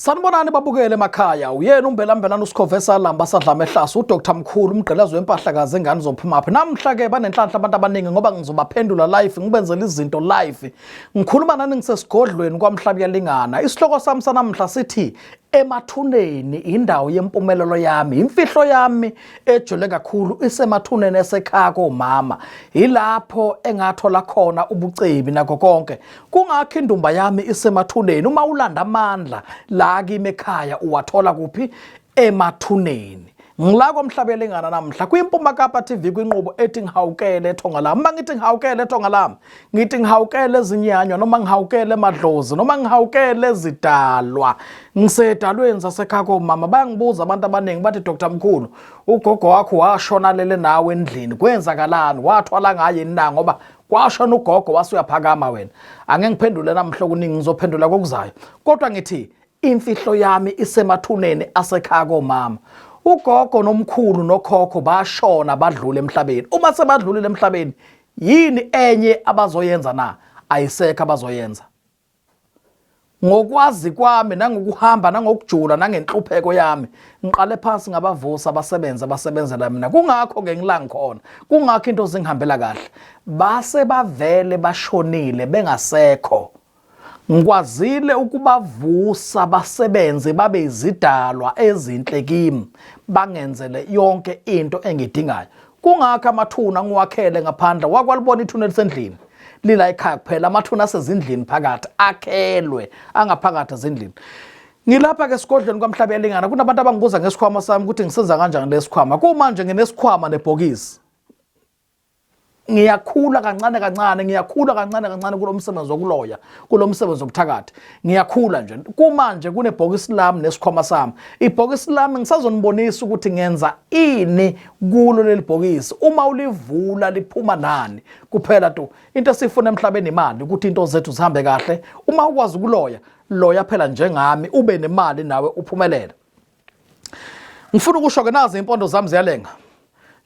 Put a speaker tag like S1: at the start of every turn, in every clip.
S1: sanibonani babukele emakhaya uyena umbelambelana usikhove salamba sadlama ehlasi udr mkhulu umgqilazi wempahla kaze engane zophumaphi namhla-ke banenhlanhla abantu abaningi ngoba ngizobaphendula life ngibenzela izinto life Ngikhuluma nani ngisesigodlweni kwaMhlabuyalingana. Isihloko sami sanamhla sithi emathuneni indawo yempumelelo yami imfihlo yami ejule kakhulu isemathuneni esekhaya komama yilapho engathola khona ubucebi nako konke kungakho indumba yami isemathuneni uma ulanda amandla la kimi ekhaya uwathola kuphi emathuneni ngila komhlabelengana namhla kwimpuma kapa tv kwinqubo ethi ngihawukele ethonga lami uma ngithi ngihawukele ethonga lami ngithi ngihawukele ezinyanywa noma ngihawukele emadlozi noma ngihawukele ezidalwa ngisedalweni sasekhako mama bayangibuza abantu abaningi bathi dr mkhulu ugogo wakho washona lele nawe endlini kwenzakalani wathwala ngaye na ngoba kwashona ugogo wasuyaphakama wena angeke ngiphendule namhla okuningi ngizophendula kokuzayo kodwa ngithi Imfihlo yami isemathuneni asekhaya komama. Ugogo nomkhulu nokhokho bashona badlule emhlabeni. Uma sebadlulile emhlabeni, yini enye abazoyenza na? Ayisekho abazoyenza. Ngokwazi kwami nangokuhamba nangokujula nangenhlupheko yami, ngiqale phansi ngabavusa abasebenza abasebenzela mina. Kungakho ke ngila ngikhona. Kungakho into zingihambela kahle. Base bavele bashonile bengasekho. Ngikwazile ukubavusa basebenze babe izidalwa ezinhle kimi, bangenzele yonke into engidingayo. Kungakho amathuna ngiwakhele ngaphandle, wakwalibona ithuna elisendlini lila ekhaya kuphela, amathuna asezindlini phakathi akhelwe angaphakathi ezindlini. Ngilapha-ke esigodlweni kwamhlaba yalingana kunabantu abangibuza ngesikhwama sami ukuthi ngisenza kanjani lesikhwama. Kumanje nginesikhwama nebhokisi. ngiyakhula kancane kancane ngiyakhula kancane kancane kulo msebenzi wokuloya kulo msebenzi wobuthakathi ngiyakhula nje kumanje kunebhokisi lami nesikhwama sami ibhokisi lami ngisazonibonisa ukuthi ngenza ini kulo leli bhokisi uma ulivula liphuma nani kuphela tu into esifuna emhlabeni imali ukuthi into zethu zihambe kahle uma ukwazi ukuloya loya phela njengami ube nemali nawe uphumelele ngifuna ukusho ke nazi impondo zami ziyalenga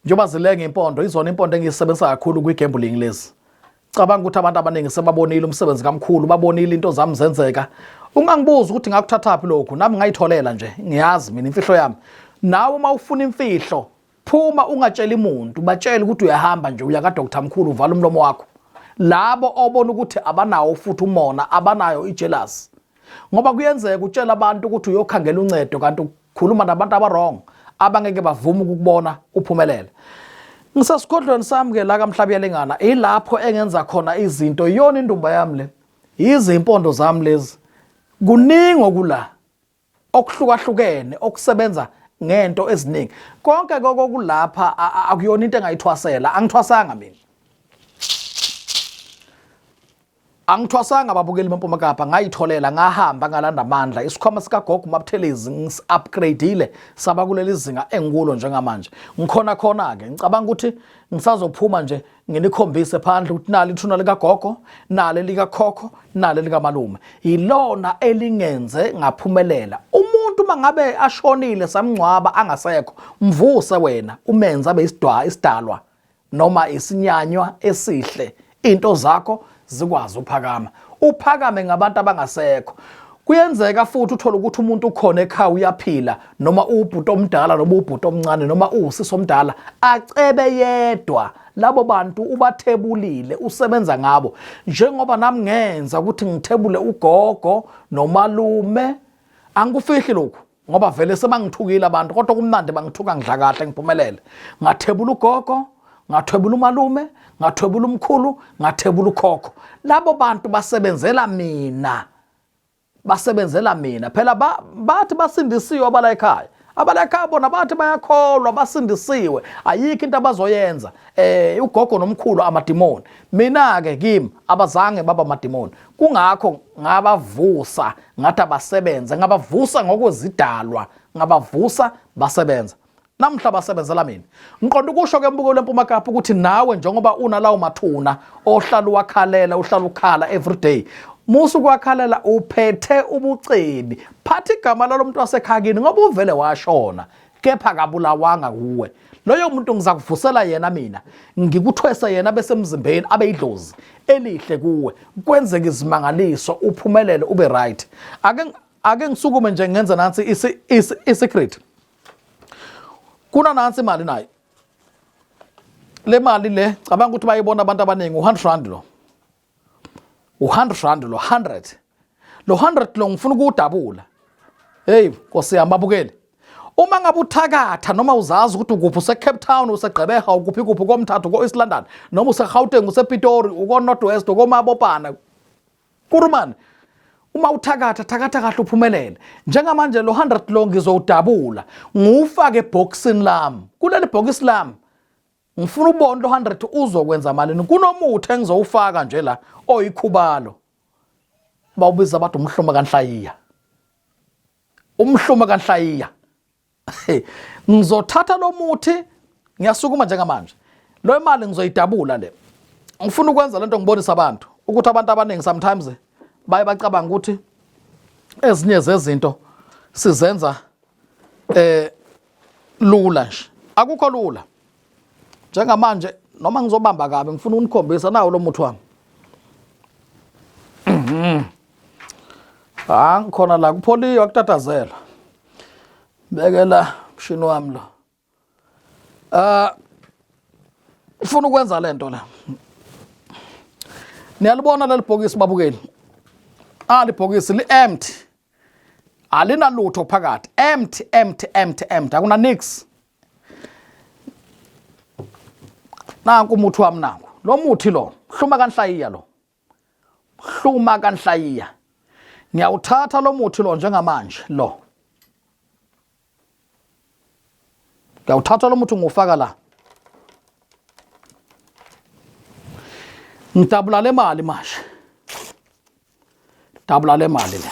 S1: njengoba zilenga impondo izona impondo engiyisebenzisa kakhulu kwi-gambling lezi cabanga ukuthi abantu abaningi sebabonile umsebenzi kamkhulu babonile into zami zenzeka ungangibuzi ukuthi ngakuthathaphi lokhu nami ngayitholela nje ngiyazi mina imfihlo yami nawe uma ufuna imfihlo phuma ungatsheli muntu batshele ukuthi uyahamba nje uya kadr mkhulu uvala umlomo wakho labo obona ukuthi abanawo futhi umona abanayo ijelasi ngoba kuyenzeka utshela abantu ukuthi uyokhangela uncedo kanti ukhuluma nabantu abarong abangeke bavume ukukubona uphumelele ngisesigodlweni sami ke la kamhlaba yalengana ilapho engenza khona izinto iyona indumba yami le yizimpondo zami lezi kuningi okula okuhlukahlukene okusebenza ngento eziningi konke kokulapha akuyona into engayithwasela angithwasanga mina angithwasanga ababukeli bempuma kapa ngayitholela ngahamba ngalanda amandla isikhwama sikagogo umabuthelezi ngisi-upgradeile saba kuleli zinga engikulo njengamanje ngikhona khona-ke ngicabanga ukuthi ngisazophuma nje nginikhombise phandle ukuthi nali ithuna likagogo nale likakhokho nale likamalume yilona elingenze ngaphumelela umuntu mangabe ashonile samngcwaba angasekho mvuse wena umenza beyisidwa isidalwa noma isinyanywa esihle into zakho zikwazi uphakama uphakame ngabantu abangasekho kuyenzeka futhi uthole ukuthi umuntu ukhona ekhaya uyaphila noma uwubhuti omdala noma uwubhuti omncane noma uwusisi omdala acebe yedwa labo bantu ubathebulile usebenza ngabo njengoba nami ngenza ukuthi ngithebule ugogo nomalume angikufihli lokhu ngoba vele sebangithukile abantu kodwa kumnandi bangithuka ngidla kahle ngiphumelele ngathebula ugogo ngathwebula umalume ngathwebula umkhulu ngathebula ukhokho labo bantu basebenzela mina basebenzela mina phela bathi basindisiwe abala ekhaya abala ekhaya bona bathi bayakholwa basindisiwe ayikho into abazoyenza eh ugogo nomkhulu amadimoni mina ke kimi abazange baba amadimoni kungakho ngabavusa ngathi abasebenze ngabavusa ngokwezidalwa ngabavusa basebenza namhla basebenzela mina ngiqonda ukusho ke mbuko lempuma kapha ukuthi nawe njengoba unalawo mathuna ohlala uwakhalela uhlala ukhala everyday musa ukwakhalela uphethe ubucebi phatha igama lalo muntu wasekhakini ngoba uvele washona kepha akabulawanga kuwe loyo muntu ngizakuvusela yena mina ngikuthwese yena besemzimbeni abe idlozi elihle kuwe kwenzeke izimangaliso uphumelele ube right ake ake ngisukume nje ngenze nansi i-secret kuna nansi imali nayo le mali le cabanga ukuthi bayibona abantu abaningi u-hundred rand lo u-hundred rand lo hundred lo hundred lo ngifuna ukuwudabula heyi nkosi yami babukeli uma ngabe uthakatha noma uzazi ukuthi ukuphi usecape town usegqebeha ukuphi kuphi komthathu ko-east london noma usegauteng usepitori uko-north west ukomabopana kurumane uma uthakatha thakatha kahle uphumelele njengamanje lo 100 lo ngizowudabula ngiwufake ebhokisini lami kuleli bhokisi lami ngifuna ubone lo 100 uzokwenza malini kunomuthi engizowufaka nje la oyikhubalo bawubiza bathi umhluma kanhlayiya umhluma kanhlayiya ngizothatha lo muthi ngiyasukuma njengamanje lo imali ngizoyidabula le ngifuna ukwenza lento ngibonisa abantu ukuthi abantu abaningi sometimes baye bacabanga ukuthi ezinye zezinto sizenza eh lula nje akukho lula njengamanje noma ngizobamba kabi ngifuna unikhombisa nawo lo muthi wami mhm. ha ngikhona la kupholiwe akutatazela bekela mshini wami lo ah ufuna ukwenza lento la niyalibona leli bhokisi babukeli ah libhokisi li-empty alinalutho phakathi empty empty empty empty akuna nix nanku umuthi wami nanku lo muthi lo hluma kanhlayiya lo hluma kanhlayiya ngiyawuthatha lo muthi lo njengamanje lo Ngiyawuthatha lo muthi ngiwufaka la. Ngidabula le mali manje. Dabula le mali le.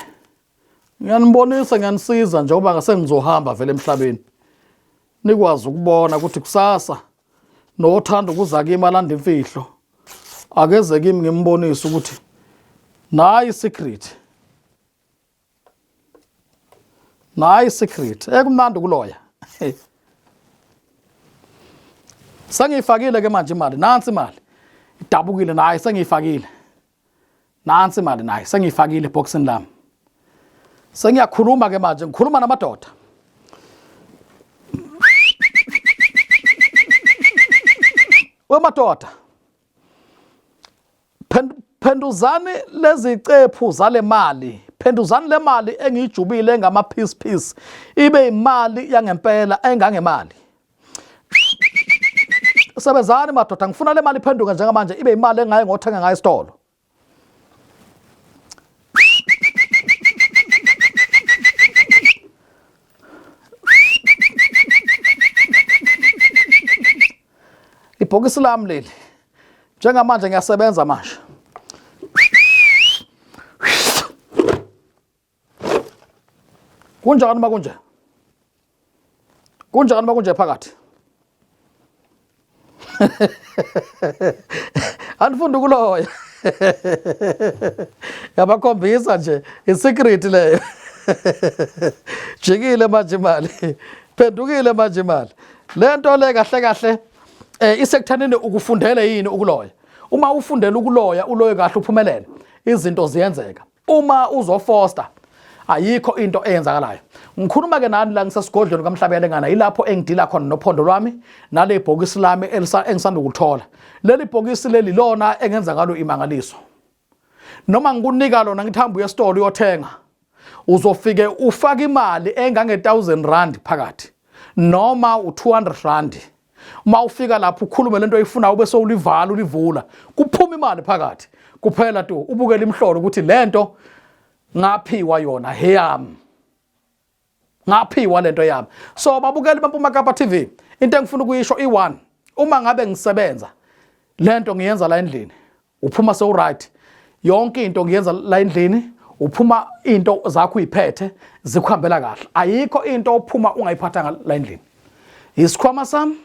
S1: Ngiyanibonisa ngiyanisiza njengoba ngase ngizohamba vele emhlabeni. Nikwazi ukubona ukuthi kusasa nothanda ukuza kimi alanda imfihlo. Akeze kimi ngimbonise ukuthi nayi secret. nayi secret ekumnandi eh, ukuloya sengiyifakile ke manje imali nansi imali idabukile nayi sengiyifakile nansi imali nayi sengiyifakile eboxini lami sengiyakhuluma ke manje ngikhuluma namadoda wemadoda Phenduzani lezicephu zale mali phenduzani le mali engiyijubile engama-piece piece ibe imali yangempela engangemali sebenzani madoda ngifuna le mali iphenduke njengamanje ibe imali engaye ngothenga ngayo esitolo ibhokisi lami leli njengamanje ngiyasebenza manje kunjani uma kunje kunjani uma kunje phakathi anifunda ukuloya yabakhombisa nje isecret leyo jikile manje imali phendukile manje imali le nto le kahle kahle eh isekuthanini ukufundele yini ukuloya uma ufundela ukuloya uloye kahle uphumelele izinto ziyenzeka uma uzofosta ayikho into eyenzakalayo ngikhuluma ke nani la ngisesigodlweni kamhlabelengana ilapho engidila khona nophondo lwami nale bhokisi lami engisanda ukulithola leli bhokisi leli lona engenza ngalo imangaliso noma ngikunika lona ngithi hamba uye esitolo uyothenga uzofike ufake imali engange-1000 rand phakathi noma u-200 rand uma ufika lapho ukhulume lento oyifunayo ube sowulivala ulivula kuphuma imali phakathi kuphela tu ubukela imhlolo ukuthi lento ngaphiwa yona heyami ngaphiwa lento yami so babukeli bampuma kapa tv into engifuna ukuyisho i1 uma ngabe ngisebenza lento ngiyenza la endlini uphuma sewuright yonke into ngiyenza la endlini uphuma into zakho uyiphethe zikuhambela kahle ayikho into ophuma ungayiphathanga la endlini isikhwama sami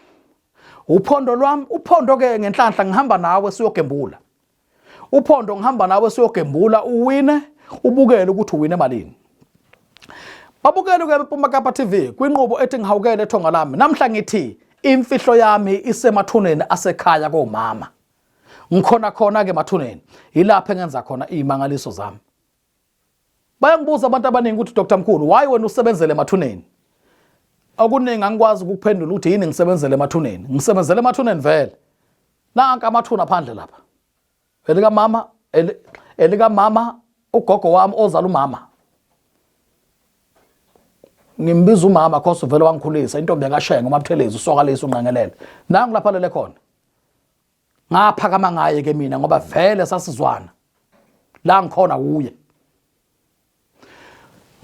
S1: uphondo lwami uphondo ke ngenhlanhla ngihamba nawe siyogembula uphondo ngihamba nawe siyogembula uwine ubukele ukuthi uwine malini babukele ke Pumakapa TV kwinqubo ethi ngihawukele ethonga lami namhla ngithi imfihlo yami isemathuneni asekhaya komama ngikhona khona ke mathuneni yilapho engenza khona izimangaliso zami bayangibuza abantu abaningi ukuthi Dr Mkhulu why wena usebenzele mathuneni okuningi angikwazi ukuphendula ukuthi yini ngisebenzele emathuneni ngisebenzele emathuneni vele nanka amathuna phandle lapha elika mama elika mama ugogo wami ozala umama ngimbiza umama cause vele wangikhulisa intombi yakashenga umabuthelezi usokalisa unqengelele nangu lapha lele khona ngaphakama ngaye ke mina ngoba vele sasizwana la ngikhona kuye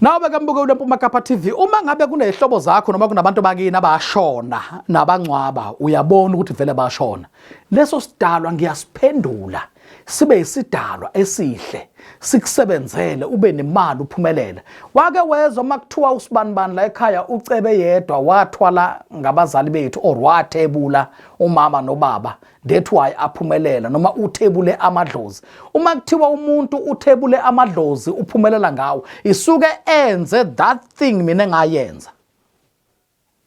S1: Nawe ke mbuke uLempuma Kapa TV uma ngabe kunezihlobo zakho noma kunabantu bakini abashona nabangcwaba uyabona ukuthi vele bashona leso sidalwa ngiyasiphendula sibe isidalwa esihle sikusebenzele ube nemali uphumelele wake wezwa makuthiwa usibanibani la ekhaya ucebe yedwa wathwala ngabazali bethu or wathebula umama nobaba that why aphumelela noma uthebule amadlozi uma kuthiwa umuntu uthebule amadlozi uphumelela ngawo isuke enze that thing mina ngayenza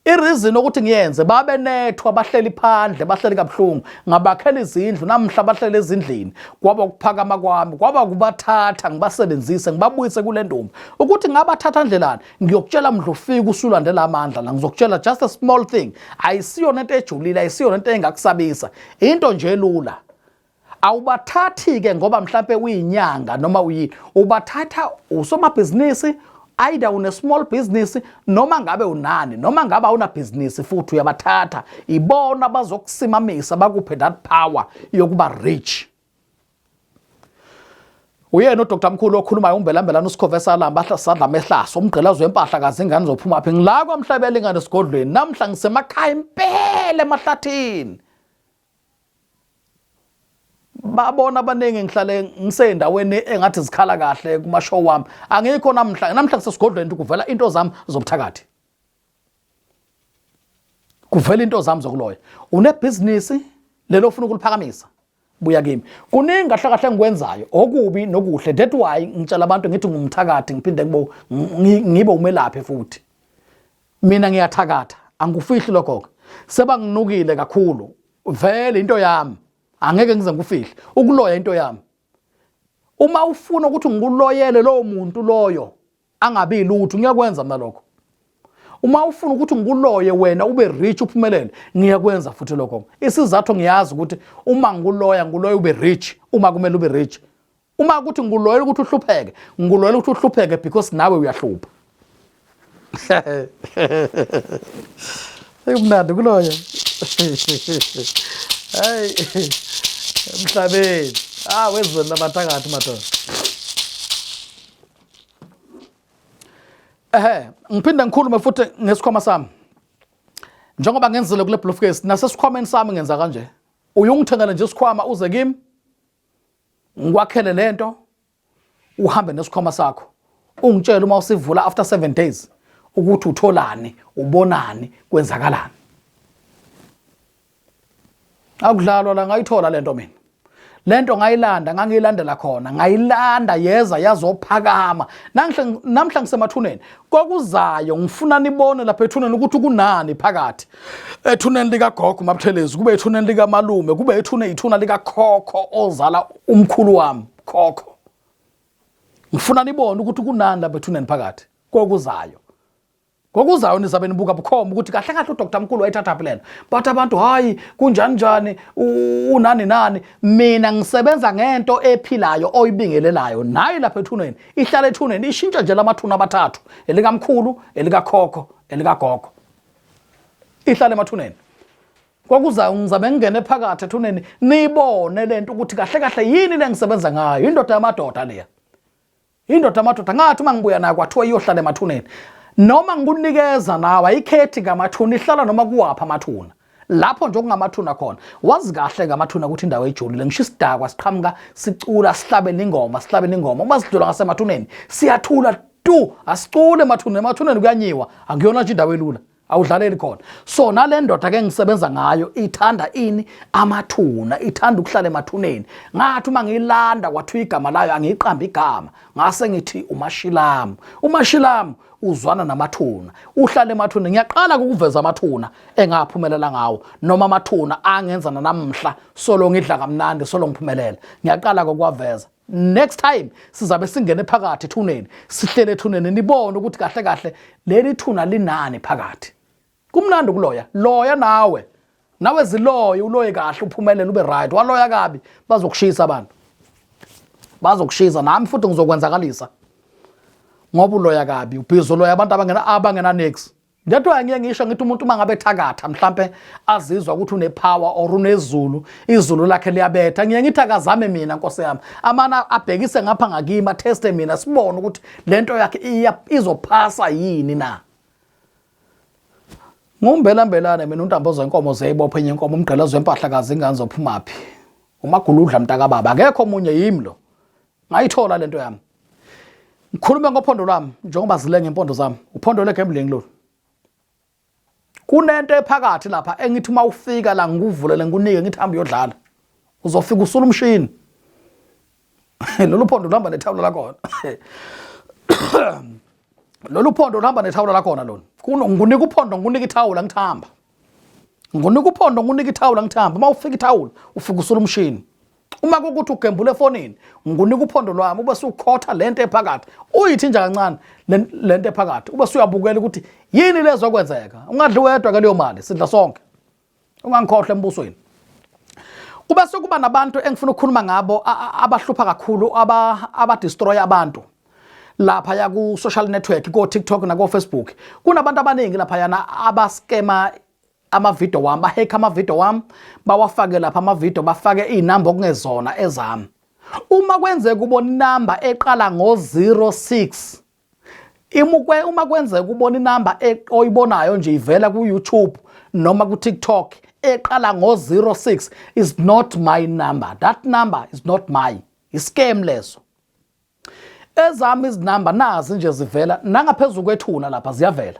S1: Ireason ukuthi ngiyenze babe nethu abahleli phandle bahleli kabuhlungu ngabakhela izindlu namhla bahlele ezindlini kwaba ukuphakama kwami kwaba kubathatha ngibasebenzise ngibabuyise kule ntombi ukuthi ngabathatha ndlelani ngiyokutshela mdlofika usulandela amandla la ngizokutshela just a small thing ayisiyona into ejulile ayisiyona into engakusabisa into nje lula awubathathi ke ngoba mhlampe uyinyanga noma uyini ubathatha usomabhizinisi either une small business noma ngabe unani noma ngabe awuna business futhi uyabathatha ibona bazokusimamisa bakuphe that power yokuba rich uyena udr mkhulu okhulumayo umbelambelana usikhovesalamba sadla mehlaso umgqilazo wempahla kazi ingane zophuma phi ngila kwamhlabela ingane esigodlweni namhla ngisemakhaya impela emahlathini babona abaningi ngihlale ngiseyindaweni engathi zikhala kahle kuma show wami angikho namhla namhla kusesigodlweni ukuthi kuvela into zami zobuthakathi kuvela into zami zokuloya unebhizinisi lelo ufuna ukuliphakamisa buya kimi kuningi kahle kahle engikwenzayo okubi nokuhle that why ngitshela abantu ngithi ngumthakathi ngiphinde ngibe umelaphi futhi mina ngiyathakatha angikufihli lokho-ke sebanginukile kakhulu vele into yami angeke ngize ngikufihle ukuloya into yami uma ufuna ukuthi ngikuloyele lowo muntu loyo angabi lutho ngiyakwenza mina lokho uma ufuna ukuthi ngikuloye wena ube rich uphumelele ngiyakwenza futhi lokho isizathu ngiyazi ukuthi uma ngikuloya ngikuloya ube rich uma kumele ube rich uma ukuthi ngikuloyela ukuthi uhlupheke ngikuloyela ukuthi uhlupheke because nawe uyahlupha ekumnandi kuloyo hayi emhlabeni ah wezweni labathakathi madoda ehe ngiphinde ngikhulume futhi ngesikhwama sami njengoba ngenzile kule bluefcase nasesikhwameni sami ngenza kanje uyungithengela nje isikhwama uze kimi ngikwakhele lento uhambe nesikhwama sakho ungitshele uma usivula after 7 days ukuthi utholani ubonani kwenzakalani akudlalwa la ngayithola lento mina lento ngayilanda ngangiyilandela khona ngayilanda yeza yazophakama namhla ngisemathuneni kokuzayo ngifuna nibone lapha ethuneni ukuthi kunani phakathi ethuneni likagogo mabuthelezi kube ethuneni likamalume kube ethune ithuna likakhokho ozala umkhulu wami khokho ngifuna nibone ukuthi kunani lapha ethuneni phakathi kokuzayo ngokuzayo nizabe nibuka bukhoma ukuthi kahle kahle udr mkhulu wayithathaphi lena bathi abantu hhayi kunjani njani unani nani mina ngisebenza ngento ephilayo oyibingelelayo nayi lapha ethuneni ihlala ethuneni ishintsha nje lamathuna abathathu elikamkhulu elikakhokho elikagogo ihlale emathuneni kwakuza ngizame ngingene phakathi ethuneni niyibone le nto ukuthi kahle kahle yini le ngisebenza ngayo indoda yamadoda leya indoda yamadoda ngathi uma ngibuya nayo kwathiwa iyohlala emathuneni noma ngikunikeza nawe ayikhethi ngamathuna ihlala noma kuwaphi amathuna lapho nje okungamathuna khona wazi kahle ngamathuna ukuthi indawo ejulile ngisho isidakwa siqhamuka sicula sihlabela ingoma sihlabela ingoma uma sidlula ngasemathuneni siyathula tu asicule emathuneni emathuneni kuyanyiwa angiyona nje indawo elula awudlaleli khona so nale ndoda ke ngisebenza ngayo ithanda ini amathuna ithanda ukuhlala emathuneni ngathi uma ngiyilanda kwathiwa igama layo angiyiqambi igama ngase ngithi umashilamu umashilamu uzwana namathuna uhlala emathuneni ngiyaqala ukuveza amathuna engaphumelela ngawo noma amathuna angenza nanamhla solo ngidla kamnandi solo ngiphumelela ngiyaqala kokuwaveza next time sizabe singene phakathi ethuneni sihlele ethuneni nibone ukuthi kahle kahle leli thuna linani phakathi kumnandi ukuloya loya nawe nawe ziloye uloye kahle uphumelele ube right waloya kabi bazokushisa abantu bazokushisa nami futhi ngizokwenzakalisa ngoba uloya kabi ubhizi uloya abantu abangena abangena next That's why ngiye ngisho ngithi umuntu uma ngabe thakatha mhlambe azizwa ukuthi une power or unezulu izulu lakhe liyabetha ngiye ngithi akazame mina nkosi yami amana abhekise ngapha ngakima teste mina sibone ukuthi lento yakhe izophasa yini na Ngombela mbelane mina untambo zenkomo zeyibophe enye inkomo umgqela zwempahla kazi ingane zophumaphi umaguludla mntaka baba akekho omunye yimi lo ngayithola lento yami ngikhulume ngophondo lwami njengoba zile ngempondo zami uphondo legambling lolu kunento ephakathi lapha engithi uma ufika la ngikuvulele ngikunike ngithi hamba uyodlala uzofika usula umshini lolu phondo luhamba nethawula lakhona lolu phondo luhamba nethawula lakhona lona ngikunika uphondo ngikunika ithawula ngithamba ngikunika uphondo ngikunika ithawula ngithamba uma ufika ithawula ufika usula umshini uma kukuthi ugembula efonini ngunika uphondo lwami ube sukhotha lento ephakathi uyithinja kancane lento ephakathi ube suyabukela ukuthi yini lezokwenzeka ungadli wedwa ke leyo mali sidla sonke ungangikhohle embusweni kube sekuba nabantu engifuna ukukhuluma ngabo abahlupha kakhulu abadestroy abantu lapha ya ku social network ko TikTok na ko Facebook kunabantu abaningi lapha yana abaskema amavidiyo wami bahekha amavidiyo wami bawafake lapha amavidiyo bafake iy'namba okungezona ezami uma kwenzeka ubona inamba eqala ngo-06 imukwe uma kwenzeka ubona inamba e-, oyibonayo nje ivela ku-youtube noma ku-tiktok eqala ngo-06 is not my number that number is not my iscam leso ezami izinamba nazi nje zivela nangaphezulu kwethuna lapha ziyavela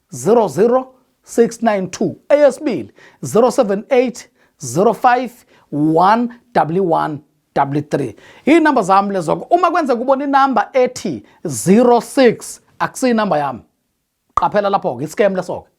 S1: 00692 eyesibili 078 05 111 3 iy'namba zami lezoko uma kwenze kubona inamba ethi 06 akusiyi inamba yami qaphela lapho-ke iscam leso-ke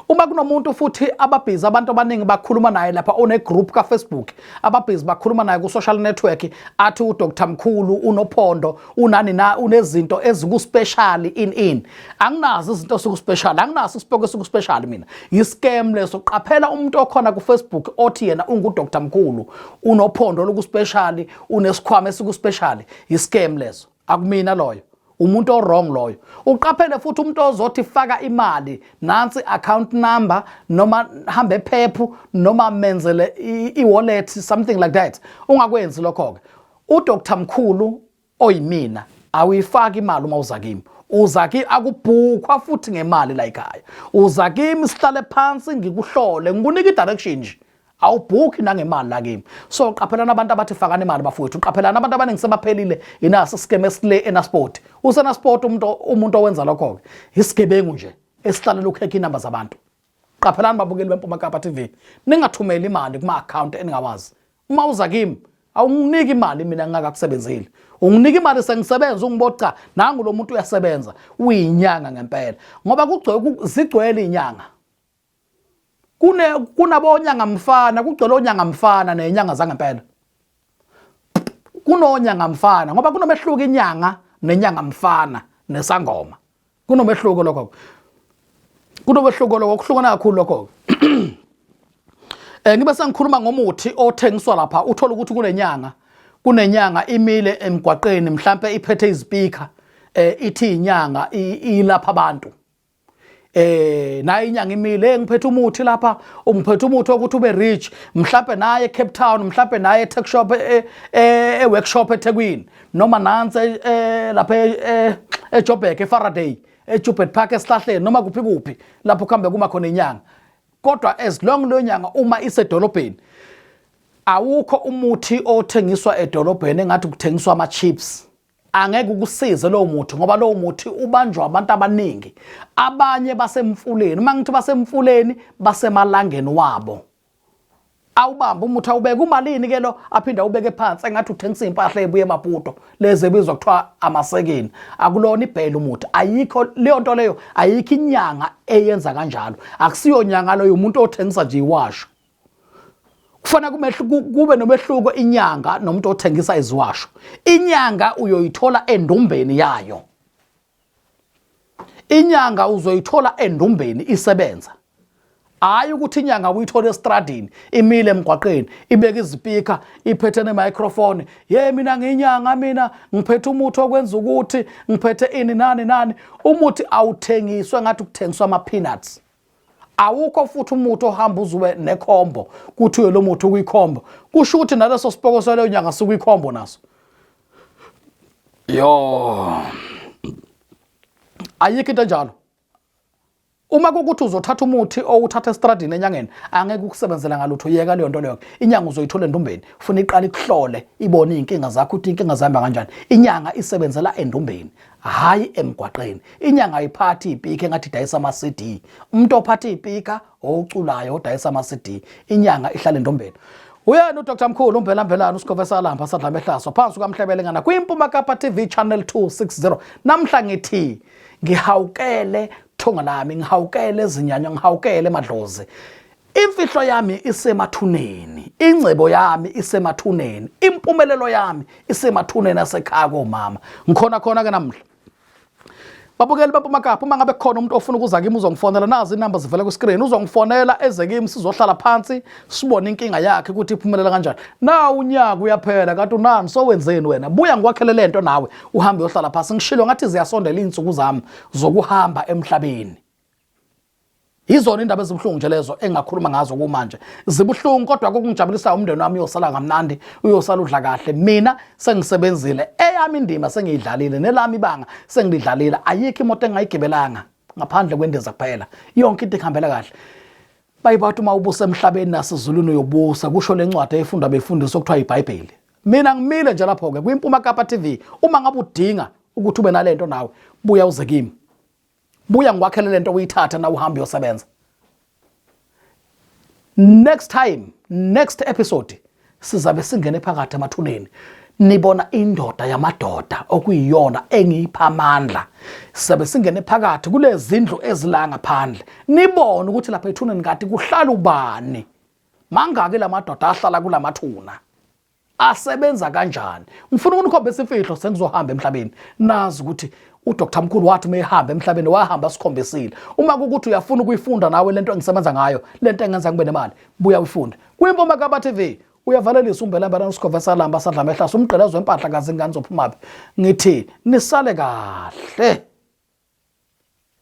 S1: uma kunomuntu futhi ababhizi abantu abaningi bakhuluma naye lapha unegroup kafacebook ababhizi bakhuluma naye ku-social network athi udr mkhulu unophondo unani na unezinto ezikuspecial in in anginazo izinto ezikuspecial anginaso isipoko esikuspecial mina yiscam leso qaphela umuntu okhona ku Facebook othi yena ungu Dr Mkhulu unophondo lokuspecial unesikhwama esikuspecial yiscam leso akumina loyo umuntu owrong loyo uqaphele futhi umuntu ozothi faka imali nansi account number noma hambe ephephu noma menzele i-wallet something like that ungakwenzi lokho-ke UDr Mkhulu oyimina awuyifaki imali uma uza kimi uza kimi akubhukhwa futhi ngemali la ekhaya uza kimi sihlale phansi ngikuhlole ngikunika i-direction nje awubhukhi nangemali la kimi so qaphelana abantu abathi fakani imali bafowethu qaphelana abantu abaningi sebaphelile yinaso isikeme esile enasport usenasport umuntu umuntu owenza lokho-ke isigebengu nje esihlalela ukukhekha inamba zabantu Qaphelani babukeli beMpuma Kapa TV, ningathumeli imali kuma account eningawazi. Uma uza kimi awunginiki imali mina ngingakakusebenzile. Unginika imali sengisebenza ungiboca nangu lo muntu uyasebenza uyinyanga ngempela ngoba kugcwele zigcwele inyanga. Kune kunabonyanga mfana kugcwele onyanga mfana nenyanga zangempela. Kunonyanga mfana ngoba kunomehluko inyanga nenyanga mfana nesangoma. kunomehluko lokho kunomehluko lokho kuhlukana kakhulu lokho eh ngibe sengikhuluma ngomuthi othengiswa lapha uthola ukuthi kunenyanga kunenyanga imile emgwaqeni mhlambe iphethe izipika eh ithi inyanga ilapha abantu eh naye inyanga imile ngiphethe umuthi lapha ungiphethe umuthi ukuthi ube rich mhlambe naye eCape Town mhlambe naye eTech Shop eWorkshop e, e, eThekwini noma nansi eh, eh, lapha eh, eJobek eFaraday eJubert Park esihlahleni noma kuphi kuphi lapho kuhambe kuma khona inyanga kodwa as long leyo nyanga uma isedolobheni awukho umuthi othengiswa edolobheni engathi kuthengiswa ama chips angeke ukusize lowo muthi ngoba lowo muthi ubanjwa abantu abaningi abanye basemfuleni uma ngithi basemfuleni basemalangeni wabo awubamba umuthi awubeke umalini ke lo aphinde awubeke phansi engathi uthengisa impahla ebuye emaputo lezi ebizwa kuthiwa amasekeni akulona ibhela umuthi ayikho leyo nto leyo ayikho inyanga eyenza kanjalo akusiyo nyanga loyo umuntu othengisa nje iwasho kufana kube nomehluko inyanga nomuntu othengisa iziwasho inyanga uyoyithola endumbeni yayo inyanga uzoyithola endumbeni isebenza hayi ukuthi inyanga uyithola estradini imile emgwaqeni ibeka izipika iphethe nemicrophone ye mina ngiyinyanga mina ngiphethe umuthi okwenza ukuthi ngiphethe ini nani nani umuthi awuthengiswe ngathi kuthengiswa ama-peanuts awukho futhi umuthi ohamba uzuwe nekhombo kuthiwe lo muthi ukuyikhombo kusho ukuthi naleso sipoko saleyo nyanga sikuyikhombo naso Yo. Ayikho into enjalo. Uma kukuthi uzothatha umuthi owuthatha estradini enyangeni angeke ukusebenzela ngalutho yeka leyo nto leyo inyanga uzoyithola endumbeni ufuna iqala ikuhlole ibone izinkinga zakho ukuthi inkinga zihamba kanjani inyanga isebenzela endumbeni hayi emgwaqeni inyanga ayiphathi ipika engathi idayisa ama CD umuntu ophatha ipika oculayo odayisa ama-cd inyanga ihlale ndombeni uyena udr mkhulu umbhela mbhelana usikhove salamba sadlame hlaswa phansi kukamhlebelengana kwimpuma kapa tv channel 260 namhla ngithi ngihawukele thonga lami ngihawukele zinyanya ngihawukele madlozi imfihlo yami isemathuneni ingcebo yami isemathuneni impumelelo yami isemathuneni asekhaya komama ngikhona khona ke namhla babukeli bapumakaphi uma ngabe khona umuntu ofuna ukuza kimi uzongifonela nazi inamba zivela kwiscreen uzongifonela eze kimi sizohlala phansi sibone inkinga yakhe ukuthi iphumelela kanjani na unyaka uyaphela kanti unani sowenzeni wena buya ngikwakhele le nto nawe uhambe uyohlala phansi ngishilo ngathi ziyasondela iy'nsuku zami zokuhamba emhlabeni yizona indaba ezibuhlungu nje lezo engingakhuluma ngazo kumanje zibuhlungu kodwa kokungijabulisayo umndeni wami uyosala kamnandi uyosala udla kahle mina sengisebenzile eyami indima sengiyidlalile nelami ibanga sengilidlalile ayikho imoto engayigibelanga ngaphandle kwendiza kuphela yonke into ihambela kahle bayibathi uma ubusa emhlabeni nasezulwini uyobusa kusho le ncwadi efundwa befundisi okuthiwa yibhayibheli mina ngimile nje lapho-ke kwimpuma kapa tv uma ngabe udinga ukuthi ube nale nto nawe buya uze kimi buya ngikwakhele lento uyithathe na uhambe uyosebenza next time next episode sizabe singene phakathi emathuneni nibona indoda yamadoda okuyiyona engiyipha amandla sizabe singene phakathi kulezindlu ezila ngaphandle nibone ukuthi lapha ethuneni kati kuhlala ubani mangaki lamadoda ahlala kulamathuna asebenza kanjani ngifuna ukunikhombisa imfihlo sengizohamba emhlabeni nazi ukuthi uDr Mkhulu wathi uma ehamba emhlabeni wahamba sikhombisile uma kukuthi uyafuna ukuyifunda nawe lento engisebenza ngayo lento engenza ngibe nemali buya uyifunde kwimpoma kaba TV uyavalelisa umbelambela nosikhova salamba sadla mehlasa umgqelezo wempahla kazi ingane zophumaphi ngithi nisale kahle